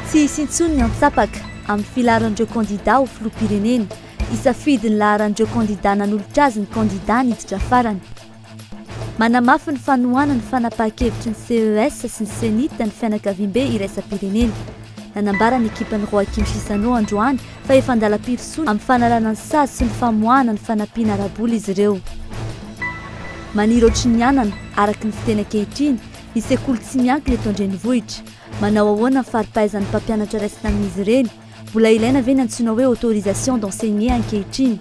Tsy hisy intsony ny antsapaka amin'ny filaharan'ireo kandidà ho filoham-pirenena. Hisafidy ny laharan'ireo kandidà nanolotra azy ny kandidà niditra farany. Manamafy ny fanohana ny fanapahan-kevitry ny CES sy ny CENIT ny fianakaviambe iraisam-pirenena. Nanambara ny ekipan'i Roakim Chissano androany fa efa an-dalam-pirosoana amin'ny fanalana ny sazy sy ny famoahana ny fanampiana ara-bola izy ireo. Maniry ohatry ny anana, araka ny fiteny ankehitriny, ny sekoly tsy miankina eto an-drenivohitra. Manao ahoana ny fari-pahaizan'ny mpampianatra raisina amin'izy ireny? Mbola ilaina ve ny antsoina hoe autorisation d'enseigner ankehitriny?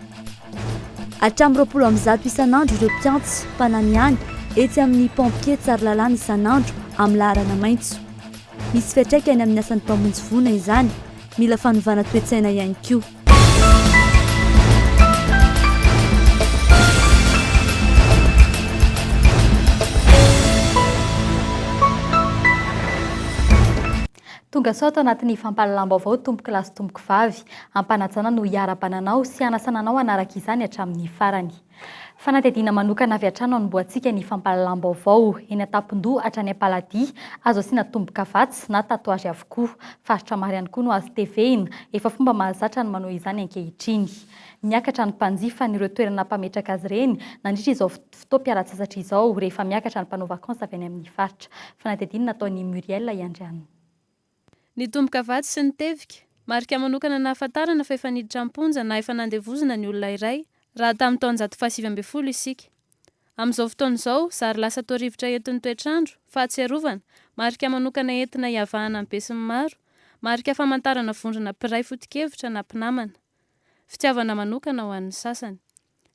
Hatramin'ny roapolo amby zato isan'andro ireo mpiantso, mpananihany, etsy amin'ny Pompiers Tsaralalàna isan'andro amin'ny laharana maitso. Misy fiantraikany amin'ny asan'ny mpamonjy voina izany. Mila fanovana toe-tsaina ihany koa. Tonga sao ato anatin'ny fampahalalam-baovao tompokolahy sy tompokovavy. Am-panajana no hiara-bana anao sy hanasana anao hanaraka izany hatramin'ny farany. Fanadihadiana manokana avy hatrany no anombohantsika ny fampahalalam-baovao. Eny an-tampon-doha hatrany am-paladia, azo asiana tombo-kavatsy na tatouage avokoa. Faritra maro ihany koa no azo tevehina. Efa fomba mahazatra ny manao izany ankehitriny. Miakatra ny mpanjifa an'ireo toerana mpametraka azy ireny nandritra izao fotoana. fotoam-pialantsasatra izao rehefa miakatra ny mpanao vakansy avy any amin'ny faritra. Fanadihadiana nataon'i Muriel Iandrianina. Nitomboka vatsy sy nitevika. Marika manokana nahafantarana fa efa niditra am-ponja na efa nandevozina ny olona iray, raha tamin'ny taonjato fahasivy ambin'ny folo isika. Amin'izao fotoana izao, zary lasa toa rivotra entin'ny toetrandro, fahatsiarovana, marika manokana entina hiavahana amin'ny besinimaro, marika famantarana vondrona mpiray foto-kevitra na mpinamana. Fitiavana manokana ho an'ny sasany.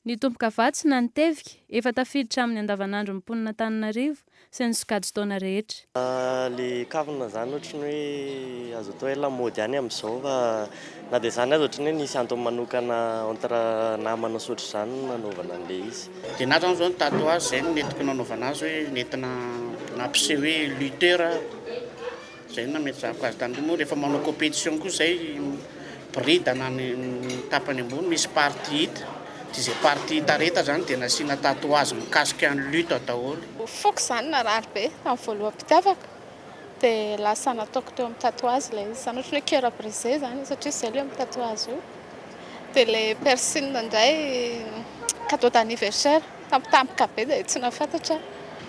Ny tombokavatso na ny tevika efa tafiditra amin'ny andavanandron'ny mponin'Antananarivo sy ny sokajin-taona rehetra. Ilay kavina izany ohatry ny hoe azo atao hoe lamaody ihany amin'izao fa na dia izany aza ohatry ny hoe nisy antony manokana entre namana sy ohatry izany no nanaovana an'ilay izy. Dia na izany izao ny tatouage izay no nentinko nanaovana azy hoe nentina nampiseho hoe lutteur aho. Zay no nametrahako azy tany moa rehefa manao competition koa zay boridana ny tapany ambony misy partie hita dia zay partie hita rehetra zany dia nasiana tatouage mikasika ny lutte daholo. Foko zany narary be tamin'ny voaloham-pitiavako dia lasa nataoko teo amin'ny tatouage ilay izy zany ohatran'ny hoe coeur brisé zany satria zay ilay mitatoage io dia ilay piercing indray cadeau d'anniversaire. Tampotampoka be dia tsy nafantatra aho.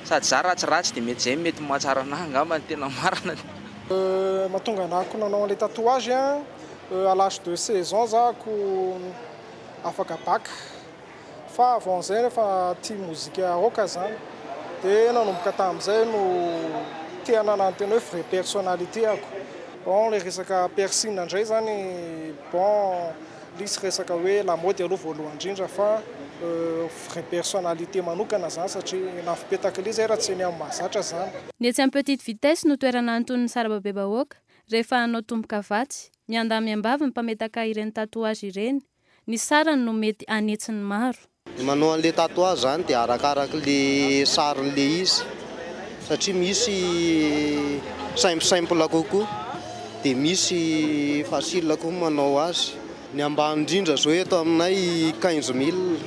Sady za ratsiratsy dia mety izay mety mahatsara anah angamba ny tena marina. Mahatonga anah ko nanao an'ilay tatouage an, à l'âge de seize ans za ko afaka bac, fa avant zay efa tia mozika rock zany, de nanomboka tamin'izay no te hanana ny tena hoe vrai personnalité ako, bon ilay resaka piercing indray zany bon Lisy resaka hoe lamaody aloha voalohany indrindra fa vraie personnalité manokana izany satria nafopetak'ilay izay raha tsy ny amin'ny mahazatra izany. Ny etsy amin'ny petite vitesse no toerana anton'ny sarababebahoaka rehefa hanao tombokavatsy, miandamiambavy ny mpametaka ireny tatouage ireny, ny sarany no mety hanetsin'ny maro. Ny manao an'ilay tatouage zany dia arakaraky le sariny le izy satria misy simple simple kokoa dia misy facile koa manao azy. Ny ambany indrindra zao eto aminay quinze mille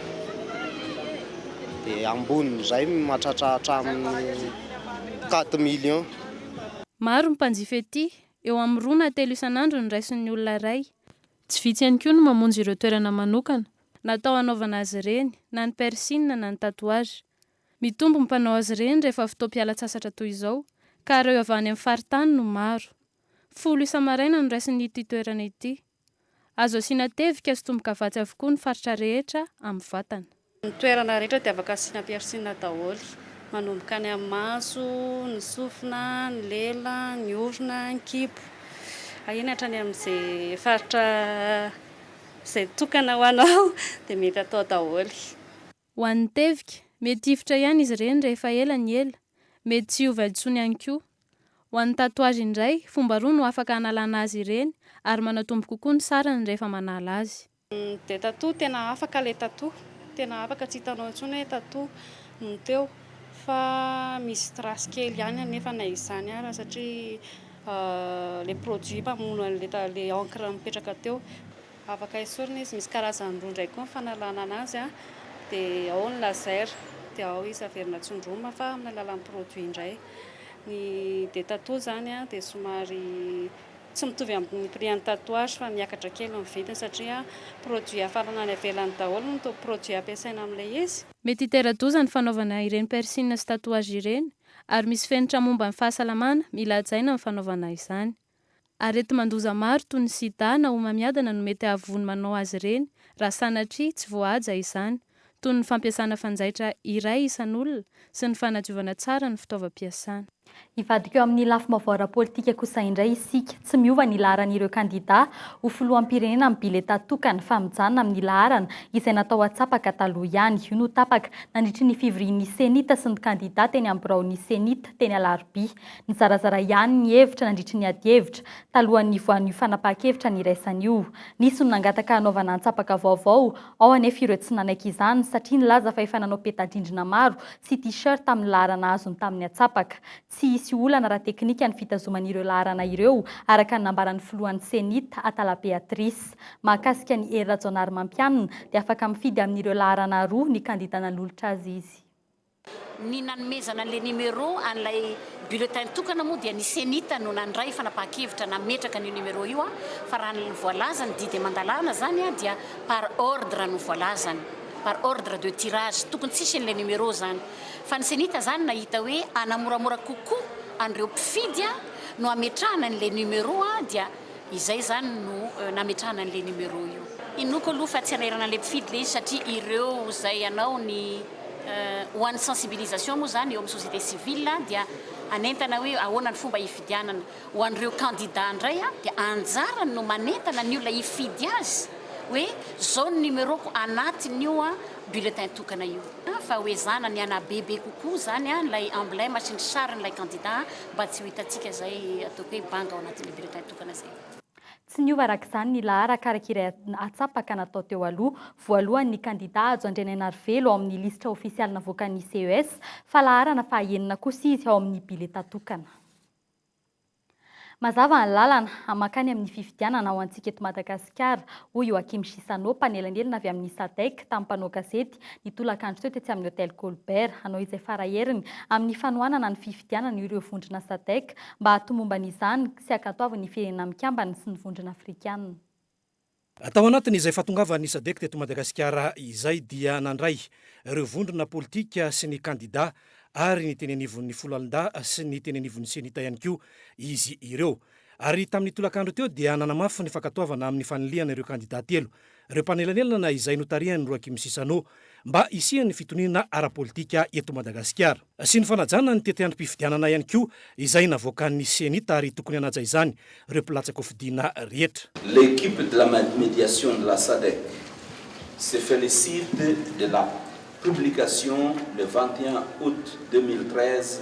dia ambonin'izay mahatratra hatramin'ny quatre millions. Maro ny mpanjifa ety, eo amin'ny roa na telo isan'andro no raisin'ny olona iray. Tsy vitsy ihany koa no mamonjy ireo toerana manokana. Natao hanaovana azy ireny, na ny piercing na ny tatouage. Mitombo ny mpanao azy ireny rehefa fotoam-pialan-tsasatra toy izao, ka ireo avy any amin'ny faritany no maro. Folo isa-maraina no raisiny ity toerana ity. Azo asiana tevika sy tomboka vatsy avokoa ny faritra rehetra amin'ny vatana. Ny toerana rehetra dia afaka asiana persil daholo, manomboka any amin'ny maso, ny sofina, ny lela, ny orona, ny kibo, eny hatrany amin'izay faritra izay tokana ho anao dia mety atao daholo. Ho an'ny tevika, mety hifotra ihany izy ireny rehefa ela ny ela, mety tsy hiova intsony ihany koa. Ho an'ny tatouage indray, fomba roa no afaka hanalana azy ireny ary manatombo kokoa ny sarany rehefa manala azy. Dia tattoo tena afaka ilay tattoo, tena afaka tsy hitanao intsony hoe tattoo no teo fa misy trace kely ihany anefa na izany ara satria ilay produit mpamono an'ilay encre mipetraka teo. Afaka esorina izy, misy karazany roa indray koa ny fanalana an'azy dia ao ny laser dia ao izy averina tsindromina fa amin'ny alalan'ny produit indray. Ny dia tattoo izany dia somary Tsy mitovy amin'ny prix an'ny tatouage fa miakatra kely ny vidiny satria produit afarana any ivelany daholo no toa produit ampiasaina amin'ilay izy. Mety hitera-doza ny fanaovana ireny piercing sy tatouage ireny ary misy fenitra momba ny fahasalamana mila hajaina amin'ny fanaovana izany. Areti-mandoza maro toy ny sida na homamiadana no mety hahavoa ny manao azy ireny raha sanatria tsy voahaja izany, toy ny fampiasana fanjaitra iray isan'olona sy ny fanadiovana tsara ny fitaovam-piasana. Hivadika eo amin'ny lafim-baovao ara-politika kosa indray isika. Tsy miova ny laharan'ireo kandidà ho filoham-pirenena amin'ny biletà tokana fa mijanona amin'ny laharana izay natao hatsapaka taloha ihany. Io no tapaka nandritry ny fivorian'ny Cenit sy ny kandidà teny amin'ny biraon'ny Cenit teny Alarobia. Nizarazara ihany ny hevitra nandritry ny adihevitra talohan'ny nivoahan'io fanapahan-kevitra niraisana io. Nisy no nangataka hanaovana antsapaka vaovao Ao anefa ireo tsy nanaiky izany satria nilaza fa efa nanao peta-drindrina maro sy T-shirt amin'ny laharana azony tamin'ny atsapaka. Tsy hisy olana ara-teknika ny fitazomana ireo laharana ireo, araka ny nambaran'ny filohan'ny Cenit, Atala Béatrice. Mahakasika an'i Hery Rajaonarimampianina dia afaka mifidy amin'ireo laharana roa ny kandida nanolotra azy izy. Ny nanomezana an'ilay numéro an'ilay bulletin tokana moa dia ny Cenit no nandray fanapahan-kevitra nametraka an'io numéro io fa raha ny voalaza ny didy aman-dalàna izany dia par ordre no voalazany, par ordre de tirage, tokony tsy hisy an'ilay numéro izany fa ny Cenit izany nahita hoe hanamoramora kokoa an'ireo mpifidy no hametrahana an'ilay numéro dia Izay izany no nametrahana an'ilay numéro io. Inoako aloha fa tsy an'airana ilay mpifidy ilay izy satria ireo izay hanao ny ho an'ny sensibilisation moa izany eo amin'ny société civile dia hanentana hoe ahoana ny fomba hifidianana. Ho an'ireo candidats indray dia anjarany no manentana ny olona hifidy azy hoe izao ny numéro-ko anatin'io bulletin tokana io. Fa ho ezahana ny hanabe be kokoa izany ilay emblème sy ny sarin'ilay candidat. mba tsy ho hitantsika izay ataoko hoe banga ao anatin'ilay bulletin tokana izay. Tsy niova araka izany ny laharaka araka iray atsapaka natao teo aloha. Voalohany ny kandidà Hajo Andrianainarivelo ao amin'ny lisitra ofisialy navoakan'ny CES fa laharana fahaenina kosa izy ao amin'ny biletà tokana. Mazava ny lalana, mankany amin'ny fifidianana ho antsika eto Madagasikara. Madagasikara, hoy Yoachim Chissano, mpanelanelana avy amin'ny Sadec, tamin'ny mpanao gazety, ny tolakandro teo tetsy amin'ny Hôtel Colbert, hanao izay fara heriny amin'ny fanohanana ny fifidianana ireo vondrona Sadec mba hahatomomba an'izany sy hankatoavin'ny ny Firenena Mikambana sy ny Vondrona Afrikana. Tao anatin'izay fahatongavan'ny Sadec teto Madagasikara izay dia nandray ireo vondrona politika sy ny kandidà ary ny teny anivon'ny foloalindahy sy ny teny anivon'ny Cenita ihany koa izy ireo. Ary tamin'ny tolakandro teo dia nanamafy ny fankatoavana amin'ny fanilihana ireo kandidà telo, ireo mpanelanelana izay notarihan'i Roakim Sisano, mba hisian'ny fitoniana ara-politika eto Madagasikara. Sy ny fanajana ny tetiandrom-pifidianana ihany koa izay navoakan'ny Cenit ary tokony hanaja izany ireo mpilatsaka hofidiana rehetra. L'equipe de la mediation de la Sadec se felicite de la publication le vingt et un août deux mille treize,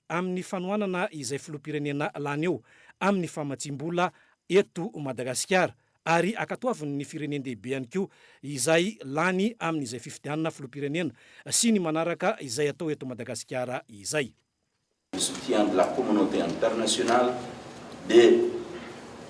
amin'ny fanohanana izay filoham-pirenena lany eo amin'ny famatsiam-bola eto Madagasikara ary ankatoaviny ny firenen-dehibe ihany koa izay lany amin'izay fifidianana filoham-pirenena sy ny manaraka izay atao eto Madagasikara izay. de soutien de la communauté internationale dia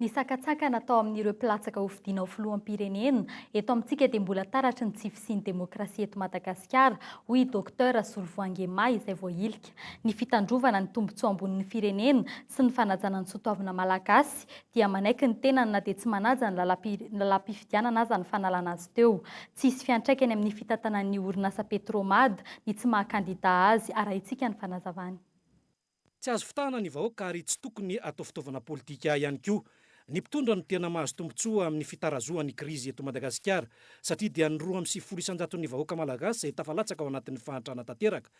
Ny sakantsakana atao amin'ireo mpilatsaka hofidiana ho filoham-pirenena eto amintsika dia mbola taratry ny tsy fisian'ny demokrasia eto Madagasikara, hoy i Docteur Solovoange May izay voahilika. Ny fitandrovana ny tombontsoa ambonin'ny firenena sy ny fanajana ny sotoavina malagasy dia manaiky ny tenany na dia tsy manaja ny lalam-pifidianana aza ny fanalana azy teo. Tsy hisy fiantraikany amin'ny fitantanan'ny orinasa Petromad ny tsy maha kandida azy, arahintsika ny fanazavany. Tsy azo fitahana ny vahoaka ary tsy tokony atao fitaovana politika ihany koa ny mpitondra no tena mahazo tombotsoa amin'ny fitarazohan'ny krizy eto Madagasikara satria dia ny roa amby sivifolo isan-jaton'ny vahoaka malagasy izay tafalatsaka ao anatin'ny fahantrana tanteraka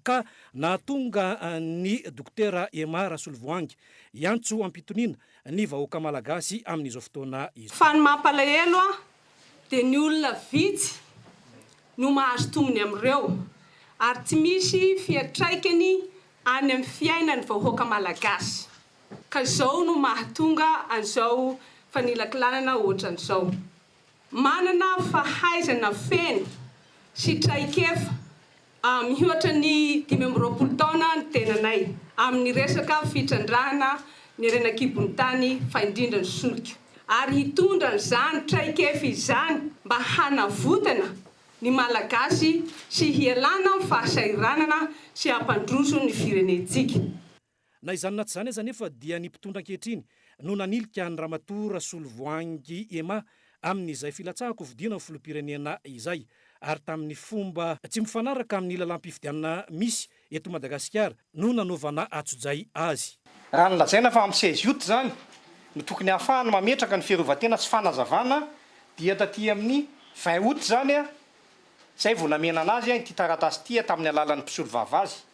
ka nahatonga ny Dokotera Emma Rasolovoahangy hiantso am-pitoniana ny vahoaka malagasy amin'izao fotoana izao. Fa ny mampalahelo dia ny olona vitsy no mahazo tombony amin'ireo ary tsy misy fiantraikany any amin'ny fiainan'ny vahoaka malagasy ka izao no mahatonga an'izao fanilakilanana ohatran'izao. Manana fahaizana feno sy traikefa Miohatra ny dimy amby roapolo taona ny tenanay amin'ny resaka fitrandrahana ny harena an-kibon'ny tany fa indrindra ny solika ary hitondra an'izany traikefa izany mba hanavotana ny Malagasy sy hialana amin'ny fahasahiranana sy hampandroso ny firenentsika. Na izany na tsy izany aza anefa dia ny mpitondra ankehitriny no nanilika an'i Ramatoa Rasolovoahangy Emma amin'izay filatsahako hofidiana ho filoham-pirenena izay ary tamin'ny fomba tsy mifanaraka amin'ny lalàm-pifidianana misy eto Madagasikara no nanaovana antsojay azy. Raha ny lazaina fa ampy seize aout izany no tokony ahafahana mametraka ny fiarovan-tena sy fanazavana dia taty amin'ny vingt aout izany izay vao namena an'azy ity taratasy ity tamin'ny alalan'ny mpisolovava azy.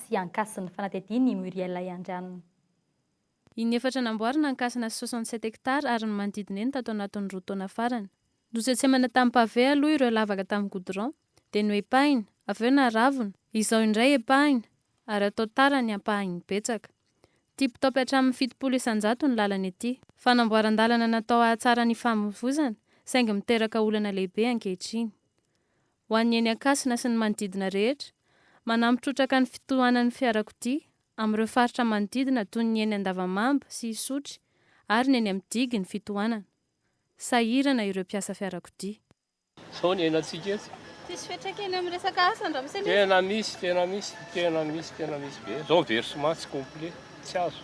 sy Ankasina, fanadihadian' i Muriel Ahiandrianina. Ny efatra namboarina, Ankasina sy soixante sept hectares ary ny manodidina eny tato anatin' ny roa taona farany. Notsetsehmana tamin'ny pavé aloha ireo lavaka tamin'ny goudron, dia noepahina, avy eo naravona, izao indray epahina ary atao tara ny ampahany betsaka. Tip top hatramin'ny fitopolo isan-jato ny lalana ety. Fanamboaran-dalana natao hahatsara ny famoizana, saingy miteraka olana lehibe ankehitriny. ho an'ny eny Ankasina sy ny manodidina rehetra, manampy trotraka ny fitohanan'ny fiarakodia amin'ireo faritra manodidina toy ny eny Andavamamba sy Isotry ary ny eny amin'ny digy ny fitohanana. Sahirana ireo mpiasa fiarakodia. Izao ny iainantsika eto. Tsisy fiantraikany amin'ny resaka asa an-dRamose nefa. Tena misy, tena misy, tena misy, tena misy be. Izao ny versement tsy complet. tsy azo.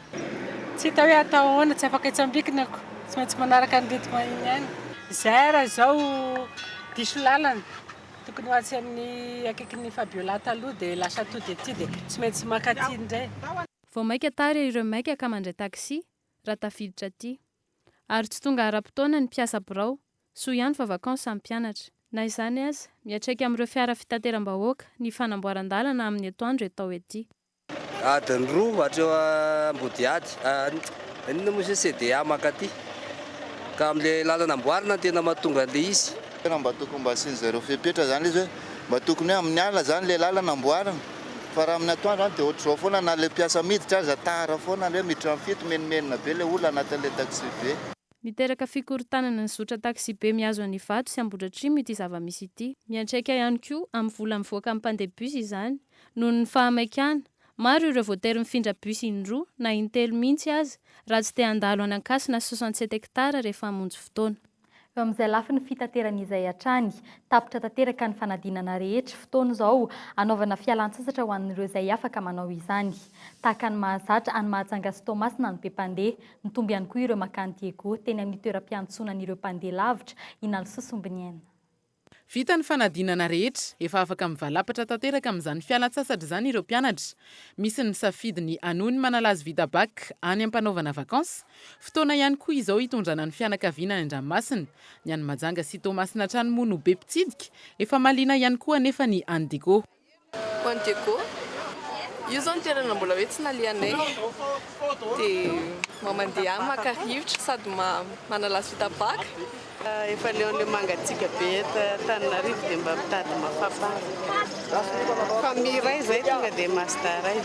Tsy hita hoe atao ahoana, tsy afaka etsy ambikina ko, tsy maintsy manaraka ny rythme iny ihany. Izay raha izao diso lalana, tokony ho atsy amin'ny akaikin'i Fabiola taloha dia lasa tody aty dia tsy maintsy maka aty indray. Vao maika tara ireo maika ka mandray taxi raha tafiditra aty. Ary tsy tonga ara-potoana ny mpiasa birao, soa ihany fa vacances ny mpianatra. Na izany aza, miatraika amin'ireo fiara fitateram-bahoaka ny fanamboaran-dalana amin'ny etoandro etao ety. Adiny roa hatreo Ambodihady, inona moa izy io CDA mankaty, ka amin'ilay lalana amboarina no tena mahatonga an'ilay izy. Tena mba tokony mba asian'ny zareo fepetra zany le izy hoe mba tokony hoe amin'ny alina zany le lalana amboarina fa raha amin'ny atoandro zany de ohatr'izao foana na le mpiasa miditra aza tara foana le hoe miditra am fito menomenona be le olona anatin'le taxibe. Miteraka fikorontanana ny zotra taxibe mihazo an'Ivato sy Ambohidratrimo ity zava-misy ity. Miantraika ihany koa amin'ny vola mivoaka amin'ny mpandeha bus izany. Noho ny fahamaikana, maro ireo voatery mifindra bus in-droa na in-telo mihitsy aza raha tsy te handalo any Ankasina soixante sept hectares rehefa hamonjy fotoana. Eo amin'izay lafiny fitaterana izay hatrany, tapitra tanteraka ny fanadinana rehetra, fotoana izao hanaovana fialan-tsasatra ho an'ireo izay afaka manao izany. Tahaka ny mahazatra any Mahajanga sy Toamasina ny be mpandeha, nitombo ihany koa ireo makany Diego teny amin'ny toeram-piantsonan'ireo mpandeha lavitra, Inalsoa Sombiniaina. Vita ny fanadinana rehetra, efa afaka mivalapatra tanteraka amin'izany fialan-tsasatra izany ireo mpianatra. Misy ny misafidy ny hanohy ny manala azy vita bac any am-panaovana vacances. Fotoana ihany koa izao hitondrana ny fianakaviana any an-dranomasina. Ny any Majanga sy Toamasina hatrany moa no be mpitsidika. Efa mahaliana ihany koa anefa ny any Digo. Juan Diego, io zao ny toerana mbola hoe tsy nalehanay dia mandeha any maka rivotra sady manalazo vita baka. Efa leon'ilay mangatsiaka be eto Antananarivo dia mba mitady mafapana. Famille iray izay tonga dia Mazda iray.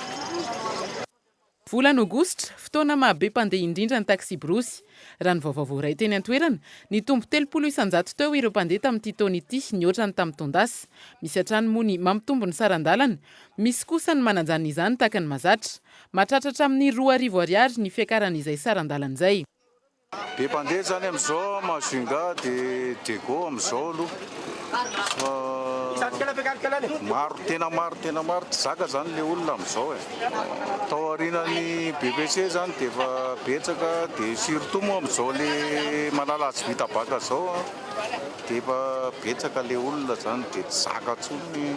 Volana Aogositra, fotoana maha be mpandeha indrindra ny taksiborosy. Raha ny vaovao voaray teny an-toerana, nitombo telopolo isan-jato teo ireo mpandeha tamin'ity taona ity, nihoatra ny tamin'ny taon-dasa. Misy hatrany moa ny mampitombo ny saran-dalana, misy kosa ny manajanona izany tahaka ny mahazatra. Mahatratra hatramin'ny roa arivo Ariary ny fiakaran'izay saran-dalana izay. Be mpandeha zany amizao a Majunga de Diego amizao aloha fa maro tena maro tena maro tsy zaka zany le olona amizao e. Tao arinan'ny BPC zany de efa betsaka de surtout moa amizao le manala azy vita baka zao a de efa betsaka le olona zany de tsy zaka tsony.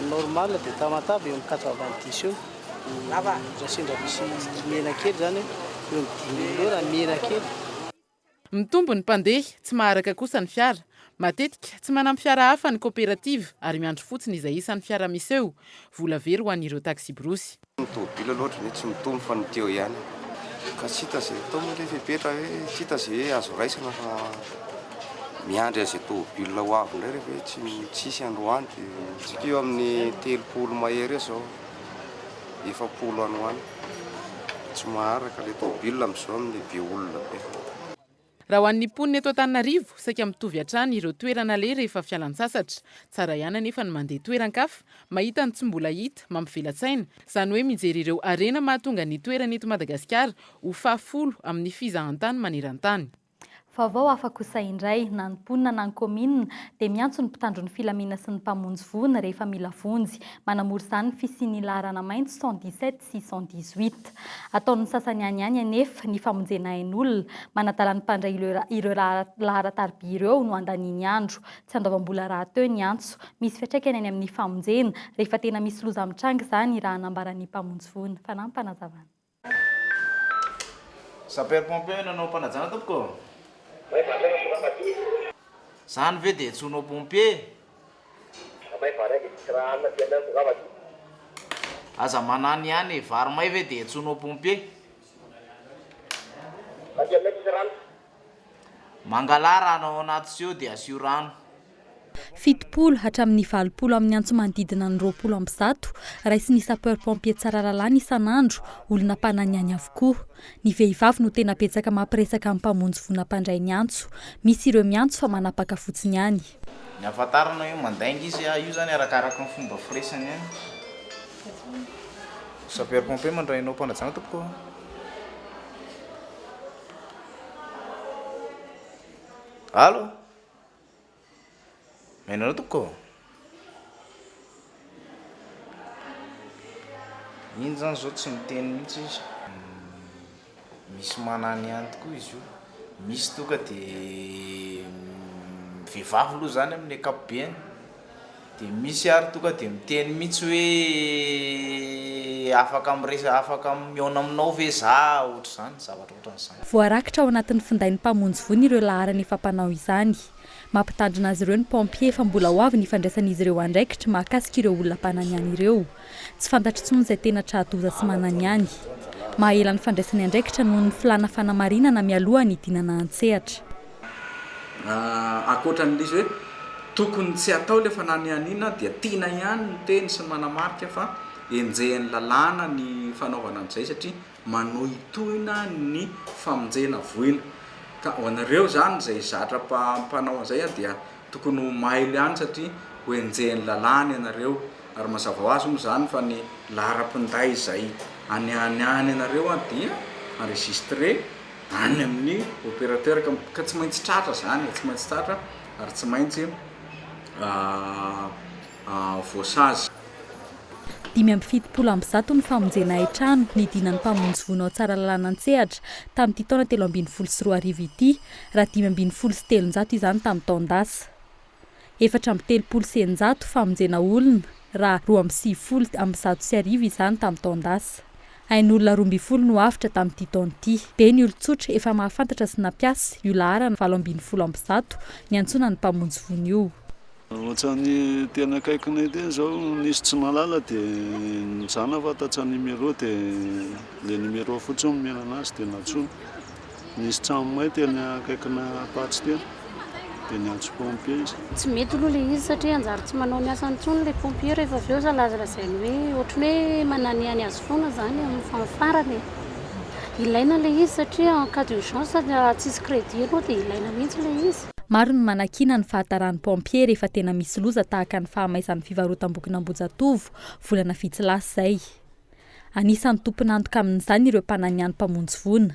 Ny normal dia tamatave eo amin'ny quatre vingt dix eo raha sendra misy mihena kely izany eo amin'ny dimy mille eo raha mihena kely. Mitombo ny mpandeha, tsy maharaka kosa ny fiara. Matetika, tsy manampy fiara hafa ny kaoperativa ary miandry fotsiny izay isan'ny fiara miseho, vola very ho an'ireo taksiborosy. Ny tôbila loatra ve tsy mitombo fa ny teo ihany ka tsy hita izay atao moa ilay fepetra hoe tsy hita izay hoe azo raisina fa miandry an'izay tôbila ho avy indray rehefa hoe tsy tsisy androany dia midika eo amin'ny telopolo mahery eo izao efapolo any ho any tsy maharaka ilay tôbila amin'izao amin'ny be olona be. Raha ho an'ny mponina eto Antananarivo, saika mitovy hatrany ireo toerana aleha rehefa fialan-tsasatra. Tsara ihany anefa ny mandeha toeran-kafa, mahita ny tsy mbola hita, mampivela-tsaina, izany hoe mijery ireo harena mahatonga ny toerana eto Madagasikara ho fahafolo amin'ny fizahantany maneran-tany. Vaovao hafa kosa indray, na ny mponina na ny kaominina dia miantso ny mpitandro ny filaminana sy ny mpamonjy voina rehefa mila vonjy. Manamory izany ny fisian'ny laharana maitso cent dix-sept. six cent dix-huit. Ataon'ny sasany any ihany anefa ny famonjena ain'olona, manadala ny mpandray ireo laharan-tarby ireo no andaniany andro. Tsy andoavam-bola rahateo ny antso. Misy fiantraikany any amin'ny famonjena, rehefa tena misy loza mitranga izany, raha nambaran'ny mpamonjy voina. Fanampinazavana. Sapeurs pompiers nanao fanajana tompoko. Zany ve de tsy ho nao pompier? Vary may vary aza e tsisy raha hanina aty aminay mitongava aty. Aza manano ihany e, vary may ve dia antsoina ho pompier? Aty aminay tsisy rano. Mangalà rano ao anaty seau dia asio rano. Fitopolo hatramin'ny valopolo amin'ny antso manodidina ny roapolo amby zato, raisin'ny sapeurs pompiers Tsaralalàna isan'andro, olona mpanana ihany avokoa. Ny vehivavy no tena betsaka mampiresaka amin'ny mpamonjy voina mpandray ny antso. Misy ireo miantso fa manapaka fotsiny ihany. Ny ahafantarana hoe mandainga izy, io izany arakaraka ny fomba firesany ihany. Sapeur pompier mandray anao mpanajana tompoko a! Allo! Miaina anao tompoko ô! Iny izany izao tsy miteny mihitsy izy. Misy manana ihany tokoa izy io. Misy tonga dia vehivavy aloha izany amin'ny ankapobeny, dia misy ary tonga dia miteny mihitsy hoe afaka miresa- afaka mihaona aminao ve za, ohatr'izany, zavatra ohatran'izany. Voarakitra ao anatin'ny findain'ny mpamonjy voina ireo laharana efa mpanao izany. Mampitandrina azy ireo ny pompiers fa mbola ho avy ny fandraisan'izy ireo andraikitra mahakasika ireo olona mpananihany ireo. Tsy fantatro intsony izay tena tra-doza sy mananihany. Mahaela ny fandraisany andraikitra noho ny filàna fanamarinana mialoha ny hidinana an-tsehatra. Ankoatra an'ilay izy hoe tokony tsy hatao ilay fananihaniana dia tiana ihany ny teny sy ny manamarika fa enjehin'ny lalàna ny fanaovana an'izay satria manohitohina ny famonjena voina ka ho anareo zany zay zatra mpanao an'izay a dia tokony ho mailo ihany satria ho enjehin'ny lalàna ianareo ary mazava ho azy moa zany fa ny laharam-pinday izay anianiany anareo a dia enregistré any amin'ny opérateur ka ka tsy maintsy tratra zany e, tsy maintsy tratra ary tsy maintsy voasazy. Dimy amby fitopolo amby zato ny famonjena hain-trano nidinan'ny mpamonjy voina ao Tsaralalana an-tsehatra tamin'ity taona telo ambin'ny folo sy roa arivo ity, raha dimy ambin'ny folo sy telonjato izany tamin'ny taon-dasa. Efatra amby telopolo sy eninjato famonjena olona, raha roa amby sivifolo amby zato sy arivo izany tamin'ny taon-dasa. Ain'olona roa ambin'ny folo no avotra tamin'ity taona ity. Be ny olon-tsotra efa mahafantatra sy nampiasa io laharana valo ambin'ny folo amby zato niantsoana ny mpamonjy voina io. Ohatran'ny tena akaikinay ity izao nisy tsy mahalala dia nijanona fa tatsa numéro dia le numéro fotsiny nomena anazy dia nantsoina. Nisy tranomay teny akaikina Apatsy teny dia niantso pompier izy. Tsy mety aloha ilay izy satria hanjary tsy manao ny asany intsony ilay pompier rehefa avy eo lazalazainy hoe ohatran'ny hoe mananihany azy foana izany amin'ny fahafarany e. Ilaina ilay izy satria en cas d'urgence tsisy crédit aloha dia ilaina mihitsy ilay izy. Maro ny manakiana ny fahataran'ny pompiers rehefa tena misy loza tahaka ny fahamaizan'ny fivarotam-bokin'Ambohijatovo, volana vitsy lasa izay. Anisan'ny tompon'antoka amin'izany ireo mpananiany mpamonjy voina.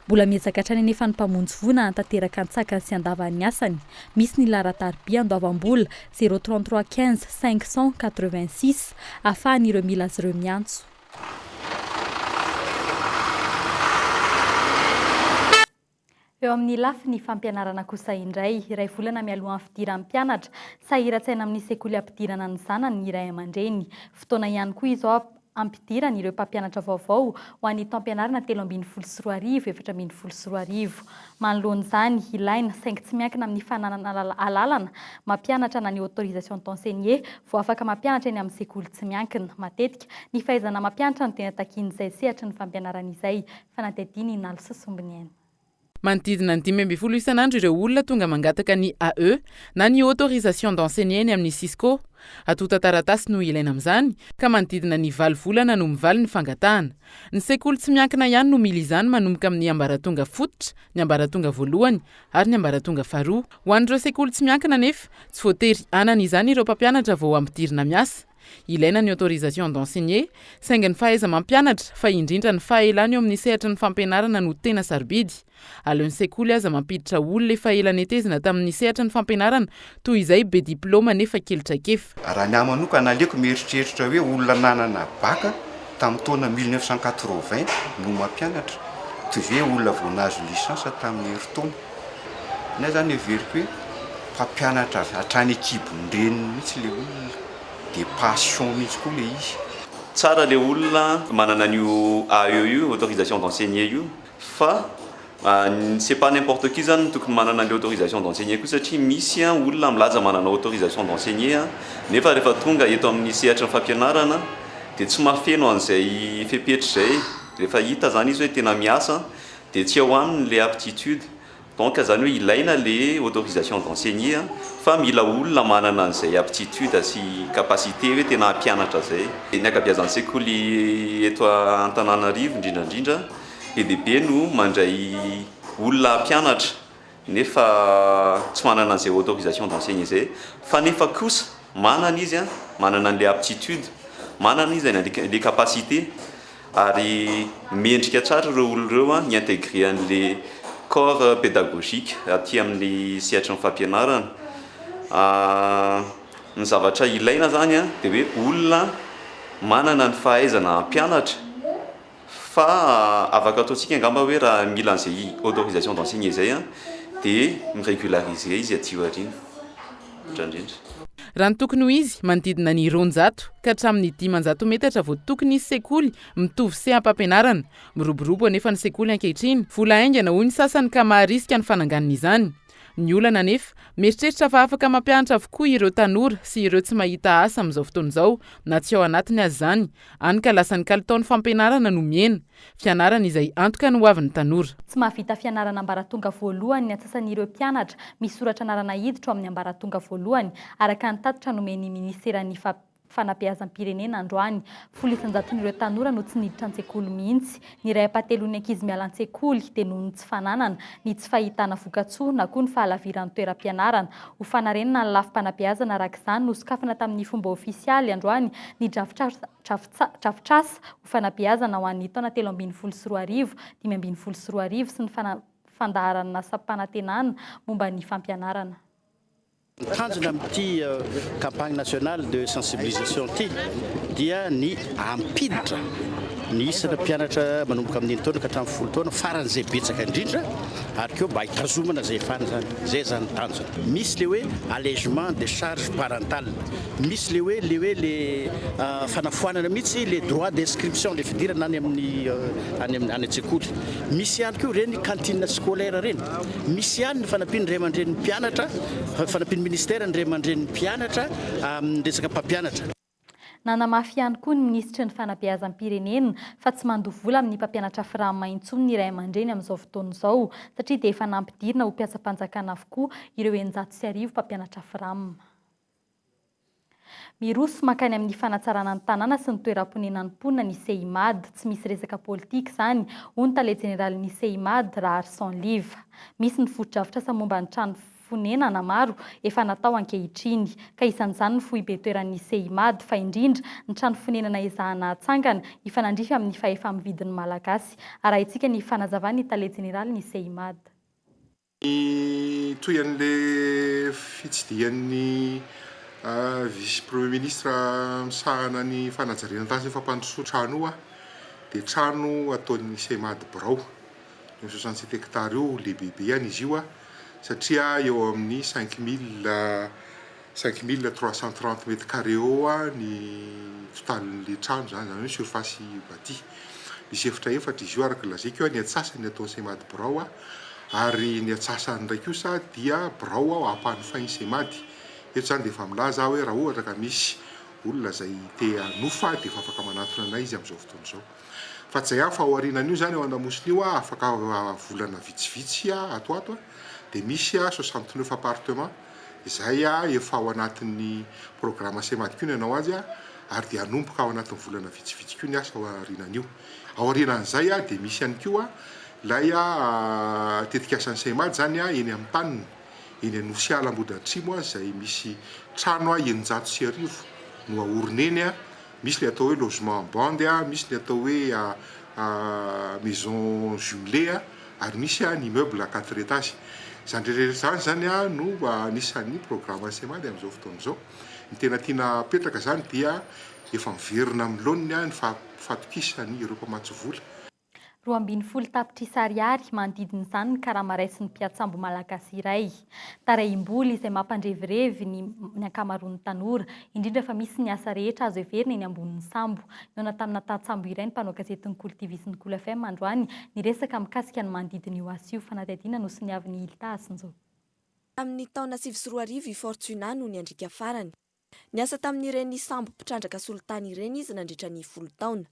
Mbola miezaka hatrany anefa ny mpamonjy voina hanatanteraka an-tsakany sy an-davany ny asany, misy ny laharan-tariby andoavam-bola, zéro trente trois quinze cinq cent quatre vingt six, ahafahan'ireo mila azy ireo miantso. Eo amin'ny lafiny fampianarana kosa indray, iray volana mialohan'ny fidiran'ny mpianatra, sahiran-tsaina amin'ny sekoly hampidirana ny zanany ny ray aman-dreny. Fotoana ihany koa izao hampidirany ireo mpampianatra vaovao ho an'ny taom-pianarana telo ambin'ny folo sy roa arivo, efatra ambin'ny folo sy roa arivo. Manoloana izany, ilaina, saingy tsy miankina amin'ny fananana alalana mampianatra na ny autorisation d'enseigner, vao afaka mampianatra eny amin'ny sekoly tsy miankina. Matetika, ny fahaizana mampianatra no tena takian'izay sehatry ny fampianarana izay. Fanadihadiana in'allo sy sombiny en. Manodidina ny dimy ambin'ny folo isan'andro ireo olona tonga mangataka ny AE na ny Autorisation d'enseigner eny amin'ny Cisco. Antontan-taratasy no ilaina amin'izany, ka manodidina ny valo volana no mivaly ny fangatahana. Ny sekoly tsy miankina ihany no mila izany manomboka amin'ny ambaratonga fototra, ny ambaratonga voalohany ary ny ambaratonga faharoa. Ho an'ireo sekoly tsy miankina anefa, tsy voatery hanana izany ireo mpampianatra vao ampidirina miasa. Ilaina ny autorisation d'enseigner, saingy ny fahaiza-mampianatra, fa indrindra ny fahaelana eo amin'ny sehatry ny fampianarana no tena sarobidy. Aleon'ny sekoly aza mampiditra olona efa ela netezina tamin'ny sehatry ny fampianarana toy izay be diplaoma nefa kely traikefa. Raha ny ahy manokana, aleoko mieritreritra hoe olona nanana bac tamin'ny taona mille neuf cent quatre-vingts no mampianatra, toy izay hoe olona vao nahazo licence tamin'ny herintaona. Nefa zany heveriko hoe mpampianatra avy hatrany an-kibon'ny reniny mihitsy le olona, de passion mihitsy koa le izy. Tsara le olona manana an'io AE io, autorisation d'enseigner io, fa c'est pas n'importe qui zany no tokony manana an'le autorisation d'enseigner koa satria misy olona milaza manana autorisation d'enseigner nefa rehefa tonga eto amin'ny sehatry ny fampianarana de tsy mahafeno an'izay fepetra izay, rehefa hita zany izy hoe tena miasa. Dia tsy ao aminy le aptitude. Donc zany hoe ilaina le autorisation d'enseigner an, fa mila olona manana an'izay aptitude sy capacité hoe tena hampianatra zay. Ny ankabiazan-tsekoly eto Antananarivo indrindra indrindra be dia be no mandray olona hampianatra nefa tsy manana an'izay autorisation d'enseigner izay, fa nefa kosa manana izy an, manana an'ilay aptitude, manana izy an, le capacité, ary mendrika tsara ireo olona ireo an hi-intégrer an'ilay corps pédagogique aty amin'ny sehatry ny fampianarana, ny zavatra ilaina izany an dia hoe olona manana ny fahaizana hampianatra. Fa afaka ataontsika angamba hoe raha mila an'izay autorisation d'enseigner izay dia mi-regulariser izy aty aoriana. Misaotra indrindra. Raha ny tokony ho izy, manodidina ny roanjato ka hatramin'ny dimanjato metatra vao tokony hisy sekoly mitovy seham-pampianarana. Miroborobo anefa ny sekoly ankehitriny, vola haingana hoy ny sasany ka maharisika ny fananganana izany. Ny olana anefa, mieritreritra fa afaka mampianatra avokoa ireo tanora sy ireo tsy mahita asa amin'izao fotoana izao, na tsy ao anatiny aza izany, Hany ka lasa ny kalitaon'ny fampianarana no mihena. Fianarana izay antoka ny hoavin'ny tanora. Tsy mahavita fianarana ambaratonga voalohany ny antsasan'ireo mpianatra misoratra anarana hiditra ao amin'ny ambaratonga voalohany, araka ny tatitra nomen'ny minisiteran'ny Fanabeazam-pirenena androany. Folo isan-jaton'ireo tanora no tsy niditra an-tsekoly mihitsy. Ny iray ampahatelon'ny ankizy miala an-tsekoly dia noho ny tsy fananana, ny tsy fahitana vokatsoa na koa ny fahalaviran'ny toeram-pianarana. Ho fanarenana ny lafim-panabeazana araka izany, nosokafana tamin'ny fomba ofisialy androany ny drafitrasa ho fanabeazana ho an'ny taona telo ambin'ny folo sy roa arivo, dimy ambin'ny folo sy roa arivo sy ny fandaharan'asam-panantenana momba ny fampianarana. Ny tanjona amin'ity campagne nationale de sensibilisation ity dia ny hampiditra ny isana mpianatra manomboka amin'ny enin-taona ka hatramin'ny folo taona faran'izay betsaka indrindra ary koa mba hitazomana izay efana izany. Izay izany ny tanjona. Misy ilay hoe allègement des charges parentales, misy ilay hoe ilay hoe ilay fanafoanana mihitsy ilay droit d'inscription, ilay fidirana any amin'ny any amin'ny any an-tsekoly. Misy ihany koa ireny cantine scolaire ireny. Misy ihany ny fanampian'ny ray aman-drenin'ny mpianatra, fanampian'ny minisitera ny ray aman-drenin'ny mpianatra amin'ny resaka mpampianatra. Nanamafy ihany koa ny minisitry ny Fanabeazam-pirenena fa tsy mandoa vola amin'ny mpampianatra Framma intsony ny ray aman-dreny amin'izao fotoana izao satria dia efa nampidirina ho mpiasam-panjakana avokoa ireo eninjato sy arivo mpampianatra Framma. Miroso mankany amin'ny fanatsarana ny tanàna sy ny toeram-ponenan'ny mponina ny Cimad. Tsy misy resaka politika izany, hoy ny tale jeneralin'ny Cimad, Raharison Liva. Misy ny fotodrafitrasa momba ny trano fonenana maro efa natao ankehitriny, ka isan'izany ny foibe toeran'ny Cimad, fa indrindra ny trano fonenana ezahana hatsangana hifanandrify amin'ny fahefa-mividin'ny Malagasy, arahintsika ny fanazavan'ny tale jeneralin'ny Cimad. Ny tohin'ilay fitsidihan'ny vice premier ministre misahana ny fanajariana tany sy ny fampandrosoana trano io dia trano ataon'ny Cemad birao. Io soixante sept hectares io lehibebeany izy io satria eo amin'ny cinq mille Cinq mille trois cent trente mètres carrés eo ny totalin'ilay trano izany, izany hoe surface bâtie. Misy efitra efatra izy io araka ny lazaiko, ny antsasany ataon'ny Cemad birao ary ny antsasany indray kosa dia birao ampanofain'ny Cemad. Eto izany dia efa milaza aho hoe raha ohatra ka misy olona izay te hanofa dia efa afaka manatona anay izy amin'izao fotoana izao. Fa tsy izay ihany fa aorianan'io izany eo Andamosina io afaka volana vitsivitsy ato ato dia misy soixante neuf appartements. izay efa ao anatin'ny programa Semadiko ny hanao azy ary dia hanomboka ao anatin'ny volana vitsivitsy koa ny asa ao aorianan'io. Ao aorianan'izay dia misy ihany koa ilay tetikasan'ny Semad izany eny amin'ny taniny, eny Anosiala Ambodiatrimo izay misy trano eninjato sy arivo no haorina eny Misy ilay atao hoe logement en bande a, misy ny atao hoe maison jumelée a, ary misy ny immeuble à quatre étages. Izany rehetra izany izany no anisan'ny programan'ny Cemad amin'izao fotoana izao. Ny tena tiana hapetraka izany dia efa miverina amin'ny laoniny ny fahatokisan'ireo mpamatsy vola. Roa ambin'ny folo tapitrisa ariary manodidina izany ny karama raisin'ny mpiantsambo malagasy iray. Tarehim-bola izay mampandrevirevy ny ny ankamaroan'ny tanora, indrindra fa misy ny asa rehetra azo heverina eny ambonin'ny sambo. Nihaona tamina tantsambo iray ny mpanao gazety ny Kolo TV sy ny Kolo FM androany niresaka mikasika ny manodidina io asa io. Fanadihadiana nosoniavin'i Hilda Asinjo. Tamin'ny taona sivy sy roa arivo i Fortuna no niandriaka farany. Niasa tamin'ireny sambo mpitrandraka solitany ireny izy nandritra ny folo taona.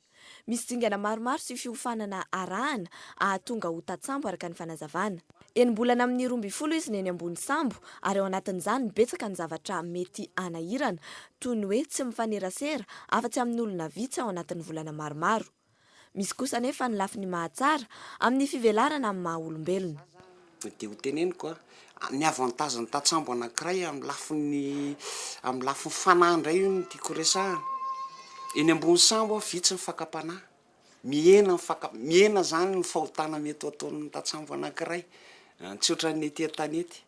Misy dingana maromaro sy fiofanana arahana ahatonga ho tantsambo araka ny fanazavana. Enim-bolana amin'ny roa ambin'ny folo izy no eny ambony sambo ary ao anatin'izany betsaka ny zavatra mety hanahirana toy ny hoe tsy mifanerasera afa-tsy amin'olona vitsy ao anatin'ny volana maromaro. Misy kosa anefa ny lafiny mahatsara amin'ny fivelarana amin'ny maha olombelona. Dia ho teneniko ny avantage ny tatsambo anankiray amin'ny lafiny amin'ny lafiny fanahy indray io no tiako resahana. Eny ambony sambo aho vitsy ny fakam-panahy, mihena ny faka- mihena izany ny fahotana mety ho ataon'ny tatsambo anankiray, tsy ohatran'ny ety an-tanety.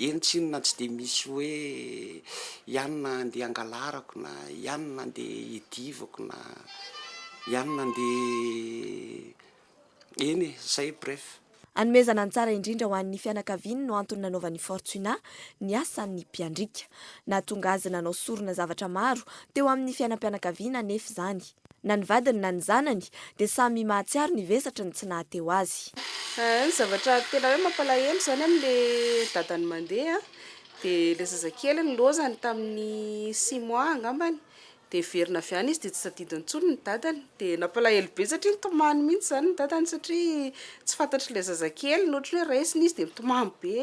Eny tsinona tsy dia misy hoe ianona andeha hangalarako na ianona andeha hidivako na ianona andeha eny e, zay bref. Hanomezana ny tsara indrindra ho an'ny fianakaviany no antony nanaovan'i Fortuna ny asan'ny mpiandriaka. Nahatonga azy nanao sorona zavatra maro teo amin'ny fiainam-pianakaviana anefa izany. Na ny vadiny na ny zanany dia samy mahatsiaro ny vesatry ny tsy nahateo azy. Ny zavatra tena hoe mampalahelo izany amin'ilay dadany mandeha dia ilay zazakely nilaozany tamin'ny six mois angambany dia heverina avy any izy dia tsy tadidy intsony ny dadany dia nampalahelo be satria nitomany mihintsy izany ny dadany satria tsy fantatr'ilay zazakely ny ohatry ny hoe raisiny izy dia mitomany be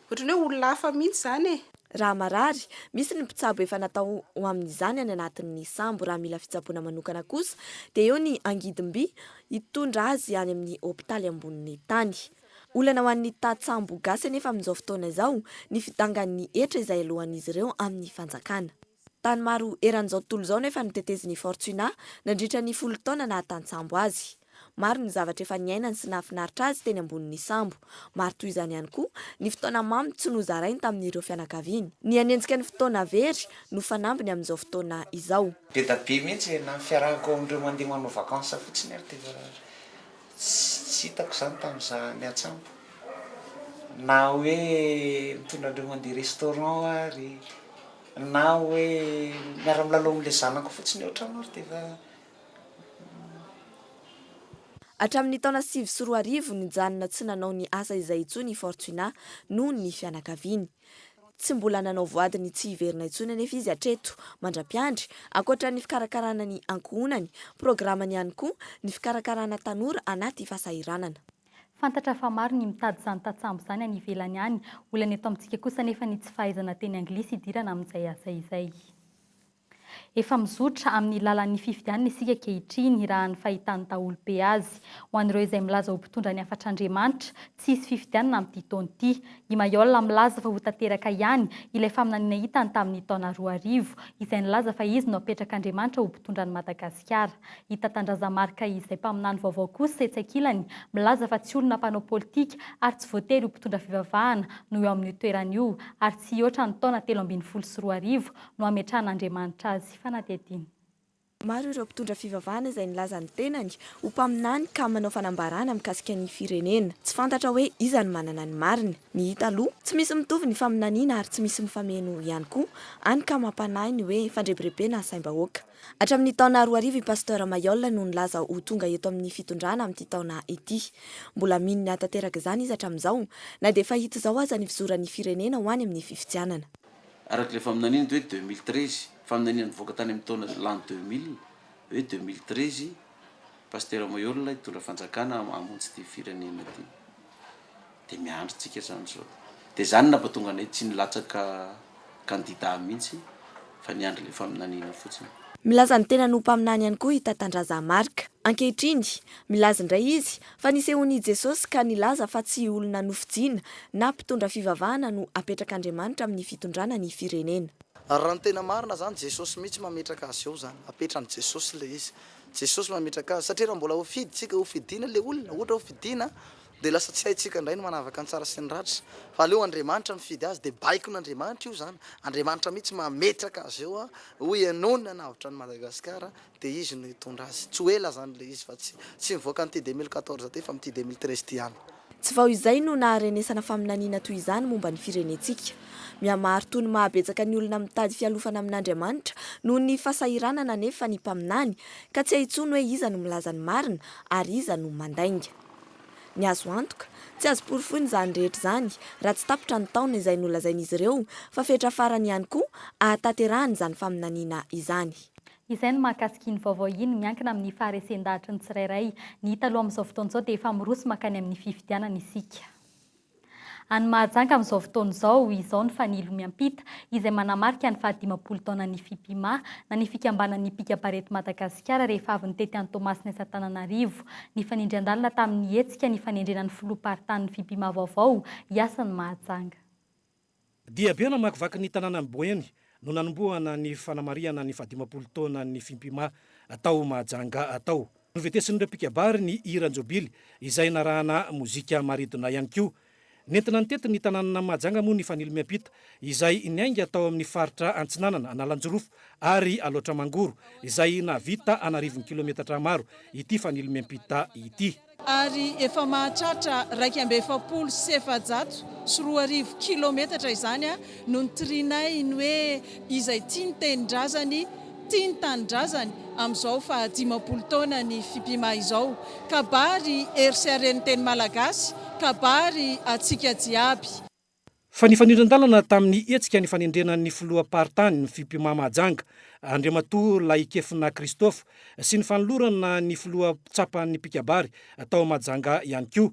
Ohatran'ny hoe olona hafa mihitsy izany e! Raha marary, misy ny mpitsabo efa natao ho amin'izany any anatin'ny sambo, raha mila fitsaboana manokana kosa dia eo ny angidim-by hitondra azy any amin'ny hopitaly ambonin'ny tany. Olana ho an'ny tat-sambo gasy anefa amin'izao fotoana izao ny fidangan'ny hetra izay alohan'izy ireo amin'ny fanjakana. Tany maro eran'izao tontolo izao anefa no tetezin'i Fortuna nandritra ny folo taona naha tantsambo azy. Maro ny zavatra efa niainany sy nahafinaritra azy teny ambonin'ny sambo. Maro toy izany ihany koa ny fotoana mamy tsy nozarainy tamin'ireo fianakaviany. Ny hanenjika ny fotoana very no fanambiny amin'izao fotoana izao. Beda be mihitsy e, na ny fiarahako amin'ireo mandeha manao vacances fotsiny ary dia efa tsy hitako izany tamin'izaho niantsambo. Na hoe mitondra an'ireo mandeha restaurant ary. Na hoe miara milalao amin'ilay zanako fotsiny eo an-trano ary dia efa. Hatramin'ny taona sivy sy roa arivo, nijanona tsy nanao ny asa izay intsony i Fortunat noho ny fianakaviany. Tsy mbola nanao voady ny tsy hiverina intsony anefa izy hatreto. Mandra-piandry, ankoatra ny fikarakarana ny ankohonany, programany ihany koa ny fikarakarana tanora anaty fahasahiranana. Fantatra fa maro ny mitady izany tantsambo izany any ivelany any. Olana eto amintsika kosa anefa ny tsy fahaizana teny anglisy hidirana amin'izay asa izay. Efa mizotra amin'ny lalan'ny fifidianana isika ankehitriny, raha ny fahitan'ny daholobe azy. Ho an'ireo izay milaza ho mpitondra ny hafatr'Andriamanitra, tsy hisy fifidianana amin'ity taona ity. I Mayolle milaza fa ho tanteraka ihany ilay faminaniana hitany tamin'ny taona roa arivo, izay nilaza fa izy no hapetrak'Andriamanitra ho mpitondra an'i Madagasikara. Madagasikara. I Tatandraza Marc izay mpaminany vaovao kosa etsy ankilany, milaza fa tsy olona mpanao politika ary tsy voatery ho mpitondra fivavahana no eo amin'io toerana io ary tsy hihoatra ny taona telo ambin'ny folo sy roa arivo no hametrahan'Andriamanitra azy fanadihadiana. Maro ireo mpitondra fivavahana izay nilaza ny tenany ho mpaminany ka manao fanambarana mikasika ny firenena. Tsy fantatra hoe iza no manana ny marina. Ny hita aloha, tsy misy mitovy ny faminaniana ary tsy misy mifameno ihany koa, hany ka mampanahy ny hoe fandrebirebena asaim-bahoaka. Hatramin'ny taona roa arivo i Pasteur Mayol no nilaza ho tonga eto amin'ny fitondrana amin'ity taona ity. Mbola mino ny hahatanteraka izany izy hatramin'izao, na dia efa hita izao aza ny fizoran'ny firenena ho any amin'ny fifidianana. Araka ilay faminaniana dia hoe deux mille treize, faminaniana nivoaka tany amin'ny taona l'an deux mille, hoe deux mille treize, Pasteur Mayol hitondra fanjakana hamonjy ity firenena ity. dia miandry tsika zany izao dia zany napatonga anay tsy nilatsaka kandida mihitsy fa niandry ilay faminaniana fotsiny. Milaza ny tenany ho mpaminany ihany koa i Tatandraza Marc. Ankehitriny, milaza indray izy fa nisehoan'i Jesosy ka nilaza fa tsy olona nofidiana na mpitondra fivavahana no apetrak'Andriamanitra amin'ny fitondrana ny firenena. Ary raha ny tena marina zany Jesosy mihitsy mametraka azy eo zany, apetran'i Jesosy ilay izy. Jesosy mametraka azy satria raha mbola ho fidintsika, ho fidiana ilay olona, ohatra hoe ho fidiana Dia lasa tsy haintsika indray ny manavaka ny tsara sy ny ratra. Fa aleo Andriamanitra mifidy azy dia baikon'Andriamanitra io izany. Andriamanitra mihitsy mametraka azy eo ho henony hanavotra an'i Madagasikara dia izy no hitondra azy. Tsy ho ela izany ilay izy fa tsy tsy mivoaka amin'ity deux mille quatorze ity fa amin'ity deux mille treize ity ihany. Tsy vao izay no naharenesana faminaniana toy izany momba ny firenentsika. Mihamaharitoa ny mahabetsaka ny olona mitady fialofana amin'Andriamanitra noho ny fasahiranana anefa ny mpaminany ka tsy hay intsony hoe iza no milaza ny marina ary iza no mandainga. Ny azo antoka, tsy azo porofoina izany rehetra izany raha tsy tapitra ny taona izay nolazain'izy ireo fa fetra farany ihany koa ahatanterahana izany faminaniana izany. Izay no mahakasika iny vaovao iny miankina amin'ny faharesen-dahatry ny tsirairay. Ny hita aloha amin'izao fotoana izao dia efa miroso mankany amin'ny fifidianana isika. Any Mahajanga amin'izao fotoana izao, izao ny fanilo miampita izay manamarika ny fahadimampolo taonan'ny Fipima, na ny fikambanan'ny mpikam-parety Madagasikara rehefa avy nitety an'i Toamasina sy Antananarivo. Nifanindry an-dalana tamin'ny hetsika ny fanendrena ny filoham-paritanin'ny Fipima vaovao hiasa any Mahajanga. Diabe namakivaky ny tanànan'i Boeny no nanombohana ny fanamarihana ny fahadimampolo taonan'ny Fimpima tao Mahajanga tao. Novetesin'ireo mpikabary ny hiran'ny Jobily izay narahana mozika maridona ihany koa. Nentina nitety ny tanànan'i Mahajanga moa ny Fanilo Miampita izay niainga tao amin'ny faritra Antsinanana, Analanjirofo ary Alaotra Mangoro izay nahavita an'arivony kilometatra maro ity Fanilo Miampita ity. ary efa mahatratra iraika amby efapolo sy efajato sy roa arivo kilometatra izany no nitrinay ny hoe izay tia ny tenindrazany tia ny tanindrazany amin'izao faha dimampolo taona ny Fipima izao. Kabary hery sy haren'ny teny malagasy, kabary antsika jiaby. Fa nifanindran-dalana tamin'ny hetsika nifanendrena ny filoham-paritany, ny Fpma Mahajanga, Andriamatoa Lahikefona Christophe, sy ny fanolorana ny filoha tsapan'ny mpikabary tao Mahajanga ihany koa.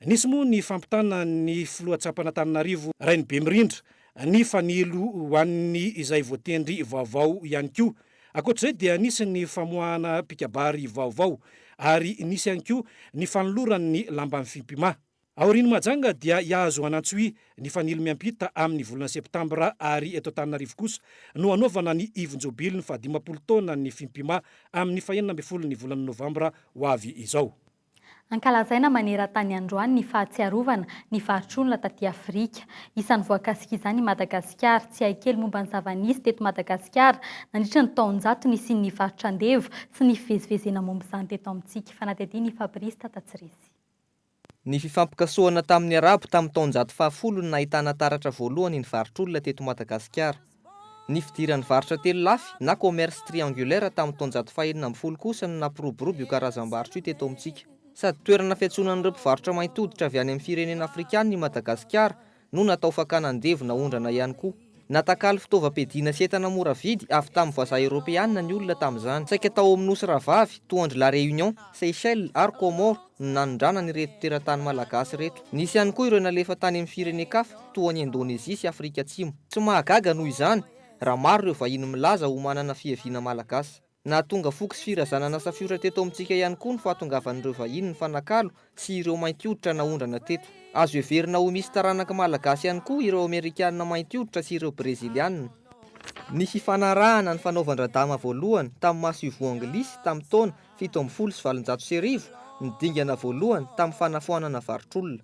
Nisy moa ny fampitana ny filoha tsapan'Antananarivo Rainibemirindra ny fanilo ho an'ny izay voatendry vaovao ihany koa. Ankoatr'izay dia nisy ny famoahana mpikabary vaovao ary nisy ihany koa ny fanolorany ny lamban'ny Fpma. Aorian'i Majanga dia i Ahazoanantsoy nifanilo miampita amin'ny volana septambra ary eto Antananarivo kosa no hanaovana ny ivon-jobilin'ny fahadimampolo taonan'ny Fimpima amin'ny fahenina ambin'ny folon'ny volana novambra ho avy izao. Ankalazaina maneran-tany androany ny fahatsiarovana ny varotr'olona taty Afrika. Isan'ny voakasik'izany i Madagasikara. Tsy hay kely momba ny zava-nisy teto Madagasikara nandritra ny taonjato nisian'ny varotra andevo sy ny fivezivezena momba izany teto amintsika. Fanadihadian'i Fabrice Tatatsirisy. Ny fifampikasohana tamin'ny Arabo tamin'ny taonjato fahafolo no nahitana taratra voalohany ny varotr'olona teto Madagasikara. Ny fidiran'ny varotra telo lafy na commerce triangulaire tamin'ny taonjato fahenina ambin'ny folo kosa no nampiroborobo io karazam-barotra io teto amintsika. Sady toerana fiantsonan'ireo mpivarotra mainty hoditra avy any amin'ny firenena afrikana i Madagasikara no natao fakana andevo na ondrana ihany koa. Natakalo fitaovam-piadiana sy entana mora vidy avy tamin'ny vazaha eoropeanina ny olona tamin'izany. Saika tao amin'ny nosy rahavavy, toa an-dry La Réunion, Seychelles ary Comores, no nanondrana an'ireto teratany malagasy ireto. Nisy ihany koa ireo nalefa tany amin'ny firenen-kafa, toa an'i Indonezia sy Afrika Atsimo. Tsy mahagaga, noho izany, raha maro ireo vahiny milaza ho manana fiaviana malagasy. Nahatonga foko sy firazanana safiotra teto amintsika ihany koa ny fahatongavan'ireo vahiny nifanakalo sy ireo mainty hoditra naondrana teto. Azo heverina ho misy taranak'i Malagasy ihany koa ireo Amerikana mainty hoditra sy ireo Breziliana. Ny fifanarahana nifanaovan-dRadama voalohany tamin'i Masoivoho Anglisy tamin'ny taona fito ambin'ny folo sy valonjato sy arivo no dingana voalohany tamin'ny fanafoanana varotr'olona.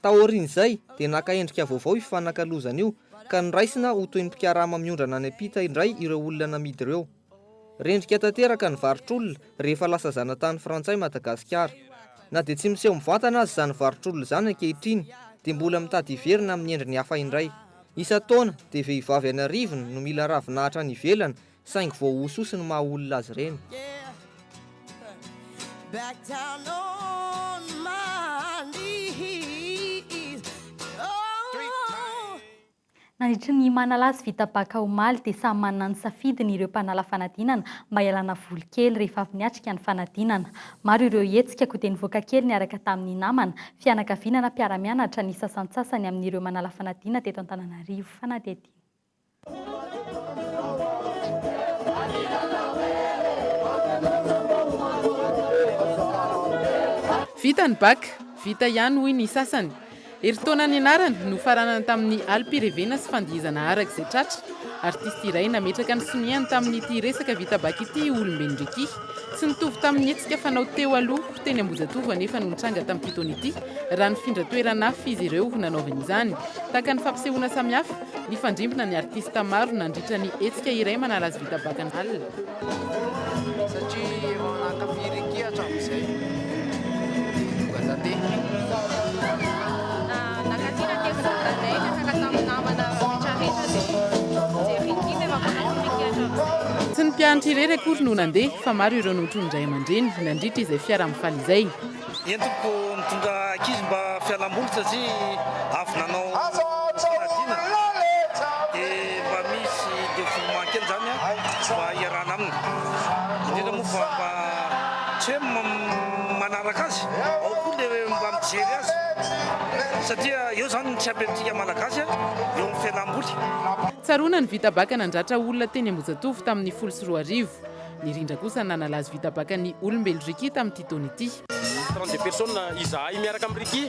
Taorian'izay dia naka endrika vaovao io fifanakalozana io ka noraisina ho toy ny mpikarama miondrana any am-pita indray ireo olona namidy ireo. Rendrika tanteraka ny varotr'olona rehefa lasa zanatany frantsay Madagasikara. Na dia tsy miseho mivantana aza izany varotr'olona izany ankehitriny dia mbola mitady hiverina amin'ny endriny hafa indray. Isan-taona dia vehivavy an'arivony no mila ravinahitra any ivelany Saingy voahososy ny maha olona azy ireny. Nandritry ny manala azy vita baka omaly dia samy manana ny safidiny ireo mpanala fanadinana mba hialana voly kely rehefa avy niatrika ny fanadinana. Maro ireo hetsika koa dia nivoaka kely niaraka tamin'ny namana, fianakaviana na mpiara-mianatra ny sasantsasany amin'ireo manala fanadinana teto Antananarivo. Fanadihadiana. Vita ny bac, vita ihany hoy ny sasany. Herintaona nianarana, nofaranana tamin'ny alim-pirevena sy fandihizana araka izay tratra. Artista iray nametraka ny soniany tamin'ity resaka vita bac ity i Olombenindriaky. Tsy nitovy tamin'ny hetsika fanao teo aloha, teny Ambohijatovo anefa no nitranga tamin'ity taona ity, raha nifindra toerana hafa izy ireo nanaovany izany. Tahaka ny fampisehoana samihafa, Nifandrimbona ny artista maro nandritra ny hetsika iray manala azy vita bakan'ala. Tsy ny mpianatra irery akory no nandeha fa maro ireo notronin'ny ray aman-dreny nandritra izay fiaraha-mifaly izay. Entiko mitondra ankizy mba fialamboly satria avy nanao fanadinana dia mba misy dévouement kely izany mba hiarahana aminy. Indrindra moa fa mba tsy hoe manaraka azy, ao koa ilay mba mijery azy satria eo izany ny tsy apemintsika Malagasy eo amin'ny fialamboly. Tsaroana ny vita baka nandratra olona teny Ambohijatovo tamin'ny folo sy roa arivo. Nirindra kosa nanala azy vitabaka ny olombelo Ricky tamin'ity taona ity. Trente deux personnes izahay miaraka amin'i Ricky.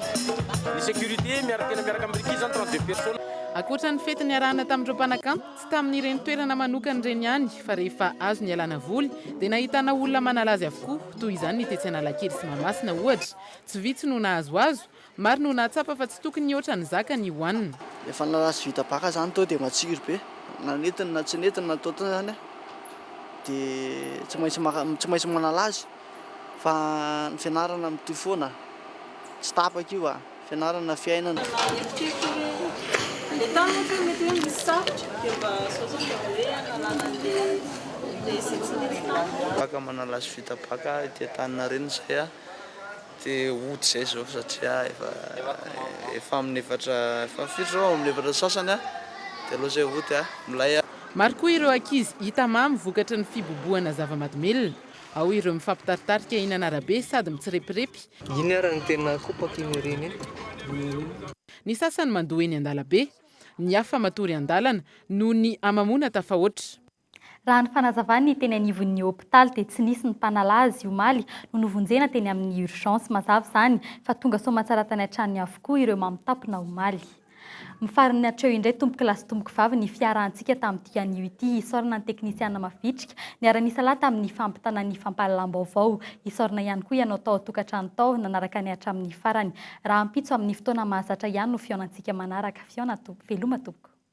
Ny sécurité miara tena miaraka amin'i Ricky izany trente deux personnes. Ankoatra ny fety niarahana tamin'ireo mpanakanto, tsy tamin'ireny toerana manokana ireny ihany fa rehefa azo nialana voly dia nahitana olona manala azy avokoa, toy izany ny tetsy Analakely sy Mahamasina ohatra. Tsy vitsy no nahazoazo, Maro no nahatsapa fa tsy tokony hihoatra ny zakany i Juan. Efa nalaza vita baka zany tao dia matsiro be. Na nentiny na tsy nentiny na totony zany a dia tsy maintsy maka tsy maintsy manala azy fa ny fianarana mitohy foana tsy tapaka io a! Fianarana, fiainana. Raha eritreritro hoe le tany ohatra hoe mety hoe nisy sarotra dia mba zao zao mba hoe analana an'le le izay tsy nety tany. Afaka manala azy vita baka ety Antaninarenina izay a! Te hody zay zao satria efa efa aminy efatra efa firy zao aminy efatra sasany a de aleo zay hody a milay a. Maro koa ireo ankizy hita mamy vokatry ny fibobohana zava-madomelina. Ao ireo mifampitaritarika eny an'arabe sady mitsirepirepy. Iny ary no tena kopaka iny ireny e. Ny sasany mandoa eny an-dalabe. Ny hafa matory an-dalana noho ny hamamoana tafahoatra. Raha ny fanazavan'ny teny anivon'ny hopitaly dia tsy nisy ny mpanala azy omaly no novonjena teny amin'ny urgence. Mazava izany fa tonga soamantsara tany an-tranony avokoa ireo mamitapona omaly. Mifarina hatreo indray tompokolahy sy tompokvavy ny fiarahantsika tamin'ny dikan'io ity isaorana ny teknisiana mavitrika niara-nisa lahy tamin'ny fampitana ny fampahalalam-baovao. Isaorana ihany koa ianao tao an-tokantrano tao nanaraka ny hatramin'ny farany. Rahampitso amin'ny fotoana mahazatra ihany no fihaonantsika manaraka. Fihaona tompoko. Veloma tompoko.